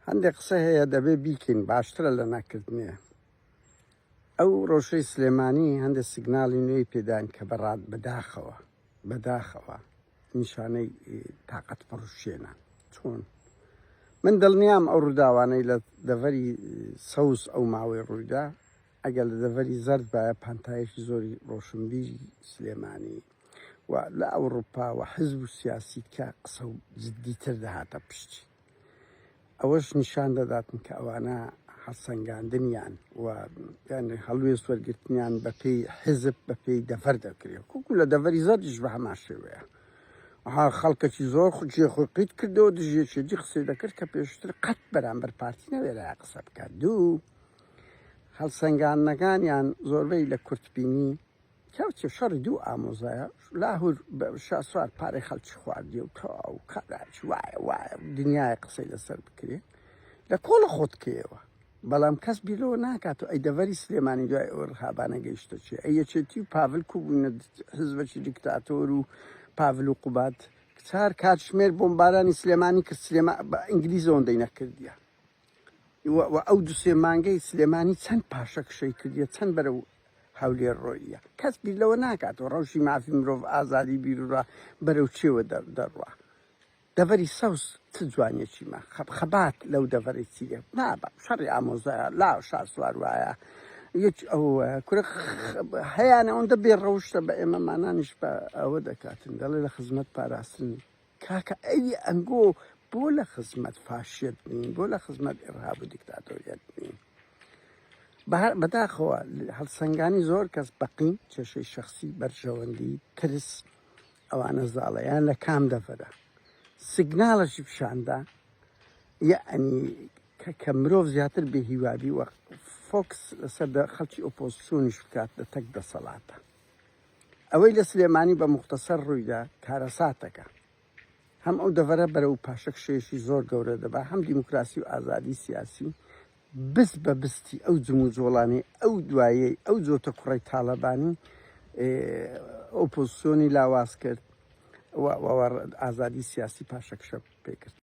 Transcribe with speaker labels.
Speaker 1: هەندێک قسە هەیە دەبێ بیکەین باشترە لە نەکردنێ ئەو ڕۆژەی سلێمانی هەندێک سیگنالی نوێی پێدان کە بەڕات بەداخەوە بەداخەوە نیشانەی تااقەت پڕشێنە چۆن من دڵنیام ئەو ڕووداوانەی لە دەڤەری سەوز ئەو ماوەی ڕوویدا ئەگەر لە دەڤەری زرد باە پانتایەکی زۆری ڕۆشنبیری سلێمانی و لە ئەوروپا و حزب و سیاسی کە قسە و جددیتر دەهاتە پشتی ئەوەش نیشان دەداتن کە ئەوانە هەڵسەنگاندنیان و هەڵوێست وەرگرتنیان بەپی حزب بەپی دەفەر دەکرێت کوکو لە دەڤەری زەرجش بە هەمان شێوەیە ها خەڵکەکی زۆر خجێ خۆی قیت کردەوە دژێکی دی قسەی دەکرد کە پێشتر قەت بەرامبەر پارتی نەوێرا قسە بکات دوو هەڵسەنگاندنەکانیان زۆربەی لە کورتبینی کەر چ شەڕی دوو ئامۆزایە لاهور شاسوار پارەی خەڵکی خواردیە و تەواو کابراێکی وایە وایە دنیایە قسەی لەسەر بکرێ لە کۆڵە خۆتکەیەوە بەڵام کەس بیرەوە ناکات و ئەی دەڤەری سلێمانی دوای ئەوە رهابانە گەیشتە چێ ئەی یەکێتی و پاڤل کو بوونە حزبەکی دیکتاتۆر و پاڤل و قوباد کچار کاتژمێر بۆمبارانی سلێمانی کرد سلێما بە ئینگلیزەوە دەینەکردیە وە ئەو دو سێ مانگەی سلێمانی چەند پاشەکشەی کردیە چەند بەرەو هەولێر ڕۆییە کەس بیر لەوە ناکات و ڕەوشی مافی مرۆڤ ئازادی بیرورا بەرەو چێوە دەڕوا دەڤەری سەوز چ جوانیەکیمە خەب خەبات لەو دەڤەری چیە نابە شەڕی ئامۆزایە لا شاسوار وایە یەک ئەو کورە هەیەە ئەوەندە بێ ڕەوشتە بە ئێمە مانانیش بە ئەوە دەکاتن دەڵێ لە خزمەت پاراستنی کاکە ئەوی ئەنگۆ بۆ لە خزمەت فاشیت نین بۆ لە خزمەت ئرهاب و دیکتاتۆریت نین بەداخەوە هەڵسەنگانی زۆر کەس بەقین کێشەی شخصی بەرژەوەندی ترس ئەوانە زاڵەیان لە کام دەفرە سیگناڵەشی پیشاندا یعنی کە کە مرۆڤ زیاتر بێ هیوابی وە فۆکس لەسەر خەڵکی ئۆپۆزسیۆنیش بکات لە تەک دەسەڵاتە ئەوەی لە سلێمانی بە موختەسەر ڕوویدا کارەساتەکە. هەم ئەو دەڤەرە بەرەو پاشەکشێشی زۆر گەورە دەبا، هەم دیموکراسی و ئازادی سیاسی بست بە بستی ئەو جموجۆڵانەی ئەو دوایەی ئەو جۆتە کوڕەی تاڵەبانی ئۆپۆزسیۆنی لاواز کرد و ئازادی سیاسی پاشەکشە پێکرد.